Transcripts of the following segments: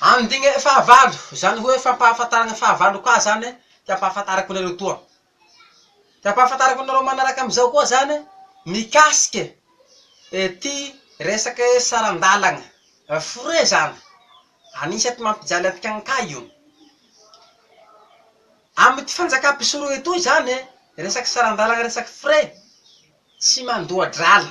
Andininy fahavalo, izany hoe fampahafantarana fahavalo koa izany ka ampahafantarako anareo toa. Ka ampahafantarako anareo manaraka amin'izao koa izany mikasika ity resaka hoe saran-dalana foret izany. Anisan'ny mampijaly antsika ankay io. Amin'ity fanjakam-pisorona itoa izany resaka saran-dalana resaka foret tsy mandoa-drala.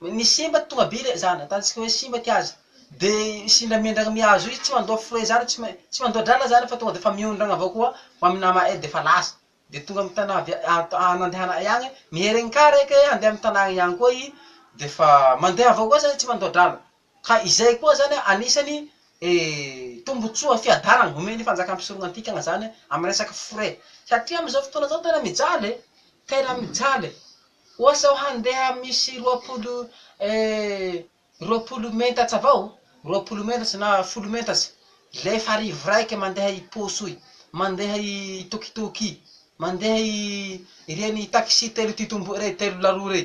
Ny simba tonga be le zany ataontsika hoe simba ity azy de sindramindrana mihazo izy tsy mandoa frais zany tsy main- tsy mandoa drala zany fa tonga defa miondrana avao koa ho amin'ny nama eo defa lasa de tonga amin'ny tanà avy at- a- nandehananay agny, miherin-kary eka e handeha amin'ny tanàgna ihany koa i defa mandeha avao koa zany tsy mandoa drala. Ka izay koa zany anisany tombotsoa fiadanana homen'ny fanjakam-pisoronana antikagna zany amin'ny resaka frais. Satria amin'izao fotoana izao tena mijaly e! Tena mijaly e! Oa sao handeha misy roapolo roapolo mentats avao, roapolo mentats na folo mentats, lefa arivo raika mandeha i posoy, mandeha i tokitoky, mandeha i ireny taxi telo titomboa rey, telo laroa rey.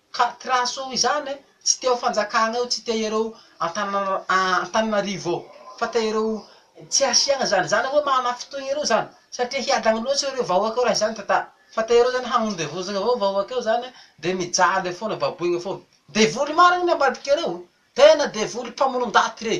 Ka traso izany e, tsy teo fanjakana eo, tsy te ireo Antananarivo ao, fa te ireo tsy asiana zany, zany hoe manafintohina ireo zany, satria hiadana loatra ireo vahoaka eo raha izany tantara, fa te ireo zany hagnondevozana avao vahoaka eo zany de mijaly eo foana, baboina foana. Devoly marina ny ambadikareo, tena devoly mpamonon-daty rey,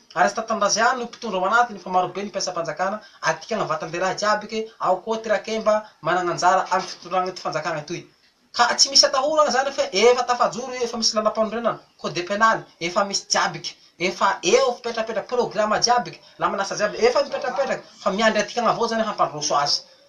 Aresta Tanindrazaian no mpitondra ao anatiny fa marobe ny mpiasam-panjakana, adikana vatan-dehilahy jiaby ke, ao koa ty Rakemba managna anjara am fitondrana ity fanjakana itoy. Ka tsy misy atahorana zany fe efa tafajoro io efa misy lalam-panorenana, code penal, efa misy jiaby ke, efa eo fipetrapetra, programa jiaby ke, la manasa jiaby efa mipetrapetraka fa miandry adikana avao zany hampandroso azy.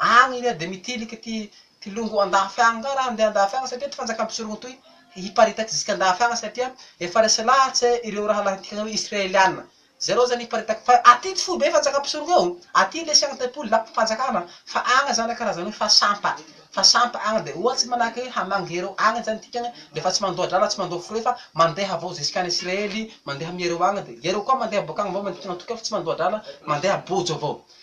Any anie dia mitiliky ty ty longo andafy agny nga raha handeha andafy agny satria ty fanjakam-pisorogna toy hiparitaky zisika andafy agny satria efa resy lahatse ireo rahalahintika atao hoe Israeliana. Zareo zany hiparitaky fa aty tsy foibe fanjakam-pisorogna eo, aty lesy agny tempoly na fanjakana fa agny zany karazana hoe fa sampa, fa sampa agny dia ohatsy manahake hoe hamangy ireo agny zany tika agny dia efa tsy mandoa drala tsy mandoa foroy fa mandeha avao zisika any Israely mandeha amiereo agny dia iereo koa mandeha boaka agny avao matoky fa tsy mandoa drala mandeha bojo avao.